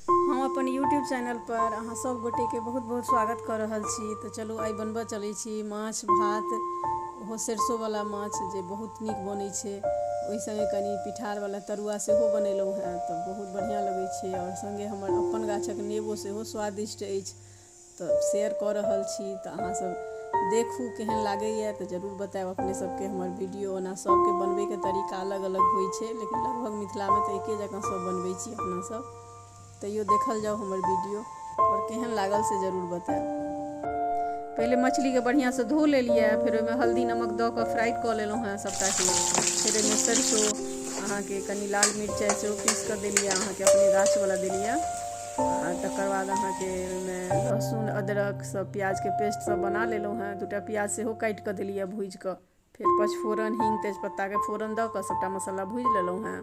हम अपन YouTube channel पर अहाँ सब गोटे के बहुत बहुत स्वागत कऽ रहल छी तऽ चलू आइ बनबऽ चलै छी माछ भात ओहो सरसों वाला माछ जे बहुत नीक बनै छै ओहि संगे कनि पिठार वाला तरुआ सेहो बनेलहुँ हेँ तऽ बहुत बढ़िआँ लगै छै आओर संगे हमर अपन गाछक नेबो सेहो स्वादिष्ट अछि तऽ शेयर कऽ रहल छी तऽ अहाँसभ देखू केहन लागैए तऽ जरूर बतायब अपने सभके हमर वीडियो ओना सभके बनबैके तरीका अलग अलग होइ छै लेकिन लगभग मिथिलामे तऽ एके जकाँ सभ बनबै छी अपनासभ तैयो देखल जाउ हमर वीडियो आओर केहन लागल से जरूर बतायब पहिले मछलीके बढ़िआँसँ धो लेलियै फेर ओहिमे हल्दी नमक दऽ कऽ फ्राइ कऽ लेलहुँ हेँ सभटाके फेर ओहिमे सरिसो अहाँके कनि लाल मिरचाइ सेहो पीस कऽ देलियै अहाँके अपने गाछवला देलियै आ तकर बाद अहाँके ओहिमे लहसुन अदरक सब प्याजके पेस्ट सब बना लेलहुँ हेँ दूटा प्याज सेहो काटि कऽ देलियै भूजि कऽ फेर पचफोरन हिंग तेजपत्ताके फोरन दऽ कऽ सभटा मसाला भूजि लेलहुँ हेँ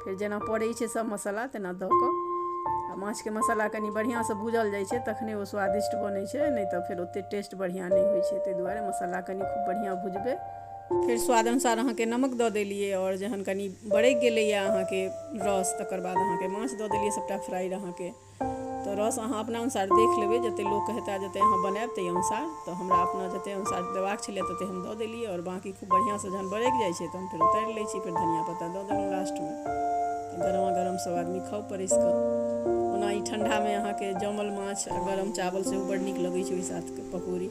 फेर जेना पड़ै छै सभ मसाला तेना दऽ कऽ आ माछके मसाला कनि बढ़िआँसँ भूजल जाइ छै तखने ओ स्वादिष्ट बनै छै नहि तऽ फेर ओतेक टेस्ट बढ़िआँ नहि होइ छै ताहि दुआरे मसाला कनि खूब बढ़िआँ भुजबै फेर स्वाद अनुसार अहाँके नमक दऽ देलियै आओर जहन कनि बरकि गेलैए अहाँके रस तकर बाद अहाँके माछ दऽ देलियै सभटा फ्राइड अहाँके तऽ रस अहाँ अपना अनुसार देख लेबै जतेक लोक हेता जतेक अहाँ बनायब ताहि अनुसार तऽ हमरा अपना जतेक अनुसार देबाक छलै ततेक हम दऽ देलियै आओर बाँकी खूब बढ़िआँसँ जहन बरकि जाइ छै तहन फेर उतारि लै छी फेर धनिया पत्ता दऽ देलहुँ लास्टमे गरमा गरम सभ आदमी खाउ परसि कऽ ओना ई ठण्डामे अहाँके जमल माछ आ गरम चावल सेहो बड़ नीक लगैत छै ओहि साथके पकौड़ी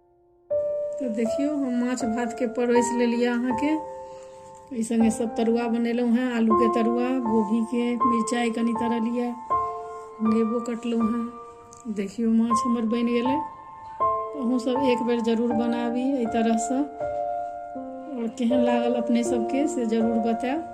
तो देखियो हम माछ भात के परोस ले लिया अहाँ के एहि संगे सब तरुआ बनेलहुँ हैं आलू के तरुआ गोभी के मिरचाई कनी तरह लिया नेबो कटलहुँ हैं देखियो माछ हमर बन गए अहूँ सब एक बेर जरूर बनाबी एहि तरह से और केहन लागल अपने सबके से जरूर बतायब